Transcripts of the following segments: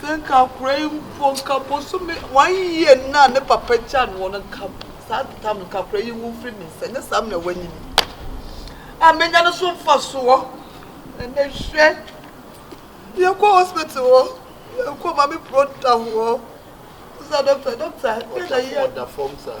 Sɛ nka akora yi mpo, nka bosome, one year no a ne papa gyaa no hɔ no, nka saa de tam no, nka akora yi nwu mfiri me nsa, nyɛ saa mena wanyi me a menya no so mfasoɔ. Ɛnɛ hwɛ, yɛkɔ hospital hɔ, yɛkɔ ma me kuro da hɔ, sɛ dɔkta, dɔkta, dɔkta yi. Ɔda fam saa.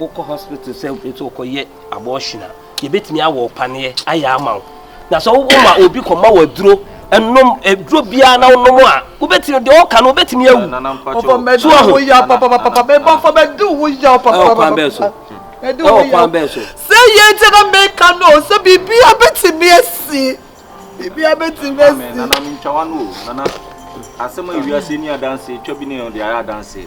wokɔ hospital sɛ nti wokɔyɛ abortion a yɛbɛtumi awɔ wo paneɛ ayɛ ama wo na sɛ woma obi kɔma wɔ aduro ɛnom aduro biara na wonom a wobɛtumi deɛ ɔka no wobɛtumi awu so aho sɛ yɛ nti na meka no sɛ biribia bɛtumi asi biribia bɛtumi asi asɛm a wiase ni adanse twa bi ne yɛn de ayɛ adanse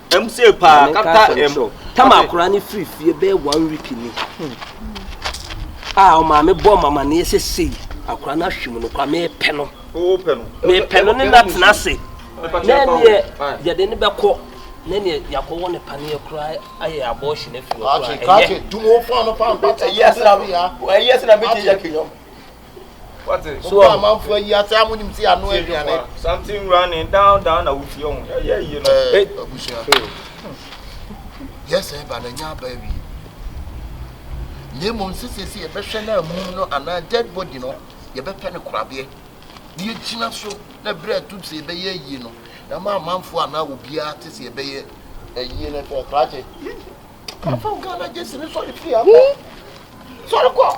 Tamakora no firi fie bɛyɛ one week ni hmm. a ah, ɔmaame bɔ mamaneɛ sɛ sei akora no ahwe mu no kora mepɛ no mepɛ no ne no atena ase na ɛneɛ yɛde ne bɛkɔ na ɛneɛ yɛakɔwɔ ne paneɛ koraa ayɛ abɔɔhye no afiri hɔ koraa ɛyɛ sena bɛtɛ yɛ kenyam so wɔ amanfo ayi ase a monim sɛ ano aduane santi nwura ne down down na wotie ho yɛyɛ yie no abusua yɛsɛ ɛba na ɛnyɛ aba awie na mmom sɛ sɛsi yɛbɛhwɛ no amum no anaa dead body no yɛbɛpɛ no korabeɛ na yɛgyina so na berɛ atum sɛ yɛbɛyɛ ayie no na ma amanfoɔ anaa obiara te sɛ yɛbɛyɛ ayie no fɛ krakye kafa wo ghana gyesi ne sɔre fie akɔ sɔre kɔ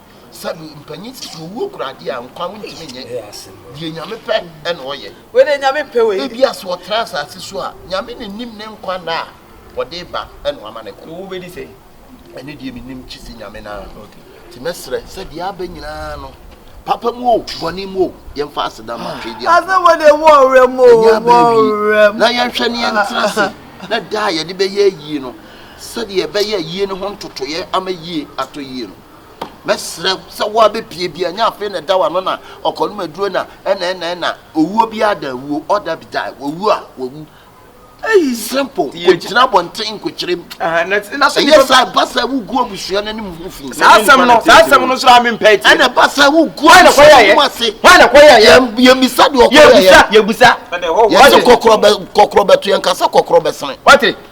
Sɛbi mpanyin si so owuo kura adeɛ a nkwa wontumi nyɛ deɛ Nyame pɛ ɛna ɔyɛ. Wei deɛ Nyame mpɛ wei. Ebia sɛ ɔtra asase so a, Nyame na nim ne nkwa nna a ɔde reba ɛna wama no kɔ. Wobɛdi sɛ? Ɛno deɛ mennim gyese Nyame no ara. Nti mɛsrɛ sɛ deɛ aba nyinaa no, papa mu o, bɔne mu o, yɛmfa aseda ma atwee di agorɔ. Asɛm wɔ deɛ mu ɔwerɛ mu o, mu ɔwerɛ mu. Na yɛnhwɛ ne yɛntra ase na da a yɛde bɛyɛ ayie no, sɛdeɛ ɛbɛyɛ ayie no ho ntotoeɛ ama yie atɔ yie no. Mɛsrɛ sɛ wo ara bɛpue bi, ɛnyɛ afei na ɛda w'ano na ɔkɔnom aduro na ɛna ɛna ɛna. Owuo biara da awuo, all die be die, wawu a wawu. Ei, simple, kɔgyina abɔnten nkɔkyerɛm. Ɛyɛ saa ɛba sɛ wogu abusua no anim ho fi. Saa asɛm no, saa asɛm no nso a mempɛ atie. Ɛna ɛba sɛ wogu abusua no anim ase. Hwan na ɛkɔ yɛyɛ? Yɛmmisa deɛ ɔkɔ yɛyɛ. Yɛbusa, yɛbusa. Yɛse kɔkorɔ bɛto yɛn ka sɛ kɔkorɔ bɛsene. Wate?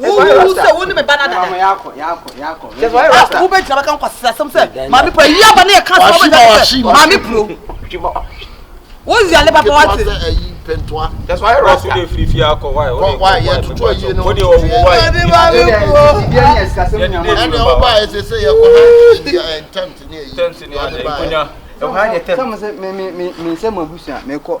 wohuhu sɛ wo ne me ba no adada wobɛgyina bɛka nkwasasɛm sɛ maame pura yi aba ne yɛka sɛ wobɛgyina sɛ maame puro wozi ale papa wate ɛwɔ ha yɛ tɛm sɛ mo abusua mekɔ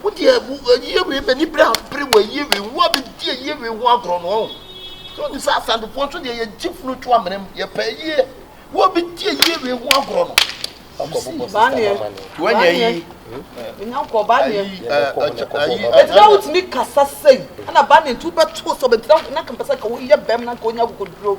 Wo deɛ wo ayie wei m'ani bere abere wɔ ayie wei wo a bɛdi ayie wei ho agorɔ no ɔn so nim sɛ asantefoɔ nso deɛ yɛgye funu to amena mu yɛpɛ ayie wo a bɛdi ayie wei ho agorɔ no akɔbobɔ sista mama ne wanya yi ayi ɛtina wotumi kasa sɛi ɛna ba ne nti wobɛto sɛ ɔbɛtira na nka mpɛ sɛ nka woyɛ bɛm na nka wonya akokoduro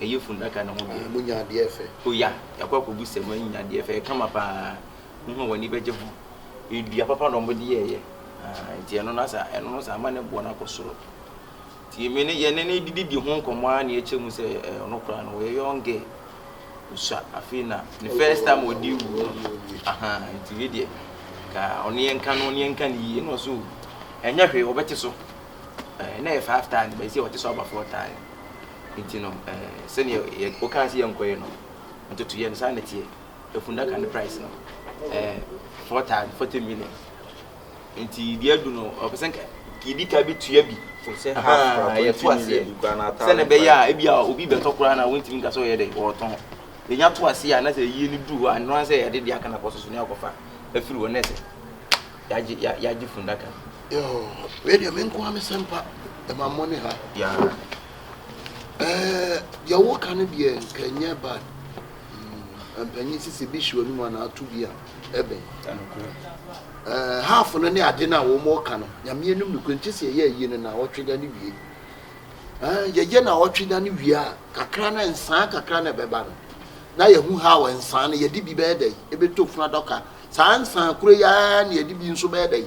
ɛyɛ fundaka no ho deɛ. Ah, monya adeɛ fɛ. O ya, yɛakɔ akɔbu sɛ moanya adeɛ fɛ. Ɛkama pa ara. Wohu a w'ani bɛgye ho. Ɛyɛ dua papa na wɔde yɛeɛ. Ah, nti ɛno no asa, ɛno no saa ama ne boɔ no akɔ soro. Nti me ne, yɛne no dididi ho nkɔmmɔ ara na yɛkyɛ mu sɛ eh, ɔno koraa no ɔyɛ young girl. Ɔsua afei na ne first time ɔde wu no. Aha, nti wei deɛ, ka ɔne yɛnka no, ɔne yɛnka no yie. Ɛna ɔso, ɛnyɛ hwee, ɔbɛte so. Eh, na ɛyɛ five tane, bɛsi ɔte so aba four tane. Nti no eh, sɛdeɛ yɛ, wokaa sɛ yɛnkɔyɛ no, ntotoyɛ no, saa na ɛteɛ. Efunnaka no price no, ɛyɛ four thousand, forty million. Nti deɛ adu no, ɔpɛ sɛ nka yɛdi kan bɛtua bi, Ɛfiri sɛ half koraa, ahaa, twenty yɛto aseɛ, million bi koraa na sɛdeɛ thousand ɛbɛyɛ five. a ebia obi bɛtɔ koraa na wontumi nka sɛ ɔyɛ dɛn, ɔretɔn. Yɛnya to aseɛ a, na sɛ ayie no duru hɔ a, ɛno ara ne sɛ yɛde deɛ aka no akɔsɔ so na yɛakɔfa afiri hɔ, na ɛsɛ yɛagye, yɛ, yɛagye funnaka no. Yɔɔ. Wei deɛ me nkoa me sɛmpa ɛma mo ne ha. Yeah. Ɛɛ deɛ woka no deɛ nka nyɛ bad. Mm, mpanyin sisi bi hyɛ ɔnum anaa ato bi a ɛbɛn. Ɛɛ half no ne ade no a wɔn ɔka no nyameɛ num no kura nkyɛ sɛ ɛyɛ ayie no na ɔtwe da no wie. Ɛɛ yɛyɛ na ɔtwe da no wie a kakra na nsaa kakra na ɛbɛba no na yɛhu ha wɔ nsaa no yɛde bi bɛyɛ dɛ ɛbɛtɔ funu adɔka saa nsaa kura yi ara na yɛde bi nso bɛyɛ dɛ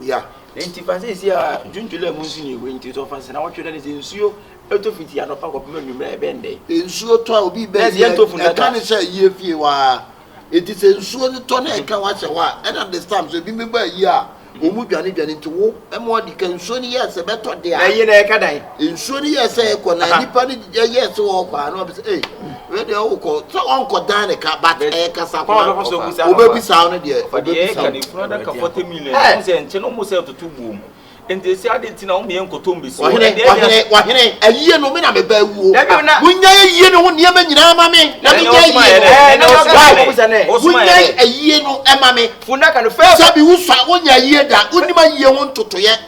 Yeah. Enti fa seesei ara dwo ntwele a emu nsu nni hɔ nti tɔ fa nsena wɔtwe dɛn sɛ nsuo tɔ fiti anɔpa kɔpem anwummerɛ a ɛbɛn dɛn. Nsuo tɔ a obi bɛ yɛ ɛka ne sɛ ayie fie hɔ ara enti sɛ nsuo no tɔ na ɛka wahyɛ hɔ a ɛna this time so ebi mmɛbɔ ayie a wɔn mu dwane dwane nti wo ɛma ɔde ka nsuo no yɛ sɛ bɛtɔ de a. Na ayie no ɛka dan. nsuo no yɛ sɛ ɛkɔ na nipa no yɛ sɛ ɔkɔ a na ɔbɛ sɛ ee wei deɛ ɔkɔ sɛ ɔnkɔ dan ne ka but ɛyɛ kasa kɔ ɔbɛbisa no deɛ ɔbɛbisa no. ɛkunu adaka forty million ɛmu sɛ nkyɛn ɔmu sɛ ɛtoto buom nti esi adi nti na ɔmu yɛ nkɔtɔ mbesi. ɔhene ɔhene ɔhene ayie no mi na mi bɛ wuo mo nya ayie no ho nneɛma nyinaa ma mi na mi nya ayie no mo nya ayie no ɛma mi sɛbi wusa wonya ayie da wonim ayie ho ntotoyɛ.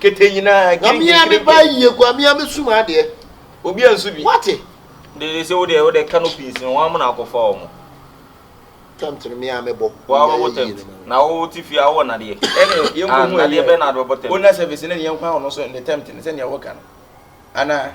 Kete nyinaa gye nkenkire pɛ. Nyame a me ba yie kwa me a me sum adeɛ. Obi a nsu bi. Wate. Dede se wo deɛ wo deɛ canopies no wɔn amuna akɔfa wɔn. Tempt no me a me bɔ. Wa bɛ bɔ tempt na wo ti fie a wo wɔ nadeɛ. Ɛne yɛn kɔ hu ɛyɛ. Nadeɛ bɛ na bɛ bɔ tempt. Owner service ne ne yɛn kɔ ahɔ no so ne tempt ne sɛ nea wo ka no anaa.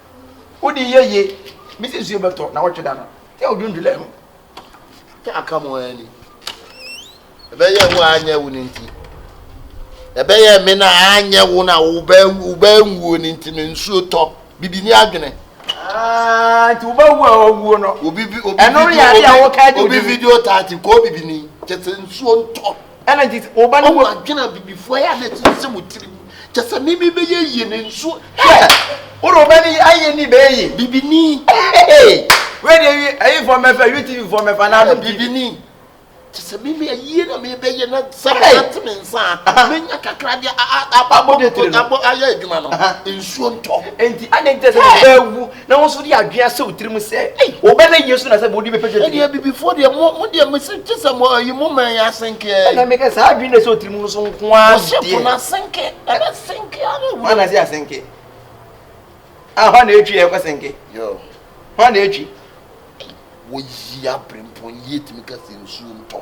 Wode yɛ ye, me se nsuo bɛtɔ na wɔtwe da no. Yɛ odwundwulɛ no, yɛ aka mo ara ni. Ɛbɛyɛ wo a anyɛ wo no nti. Ɛbɛyɛ me na anyɛ wo na wobaa nwuo no nti no nsuo tɔ. Bibi ni adwene. Ah, nti wobaa wu a owuo no. Obi video, obi video, obi video tati, kɔ bibi ni, kyɛ sɛ nsuo ntɔ. ɛna gye sɛ ɔba no mu adwene abibifoɔ yɛ a na ɛte sɛ mo tirim kyɛ sɛ meme bɛyɛ yie ne nsuo wode ɔba no ayɛ ni bɛyɛ yie bibini wɛdeɛ ayifoɔ mɛfa witivifoɔ mɛfa na bibini te sɛ me me ayie na mebɛyɛ na sɛ mɛte me nsa a menya kakra de abɔ ayɛ adwuma no nsuo ntɔ enti ade nkyɛ sɛ mebɛwu na wɔn nso de adwene ahyɛ wo tirim sɛ wɔbɛnna Yesu na sɛ wɔde bɛpɛ sɛ ɛdeɛ abibifoɔ deɛ mo mo deɛ mese gye sɛ mo ayi mo man yɛ asenkeɛ ɛna meka saa adwene na ɛsɛ ɔtirim no so nko ara ɔhyɛ po no asenke ɛna senke ara wura na sɛ asenke a hɔ na ɛtwi yɛ ɛkɔ senke hɔ na ɛtwi wɔyi abrempɔn yi ɛtumi ka sɛ nsuo ntɔ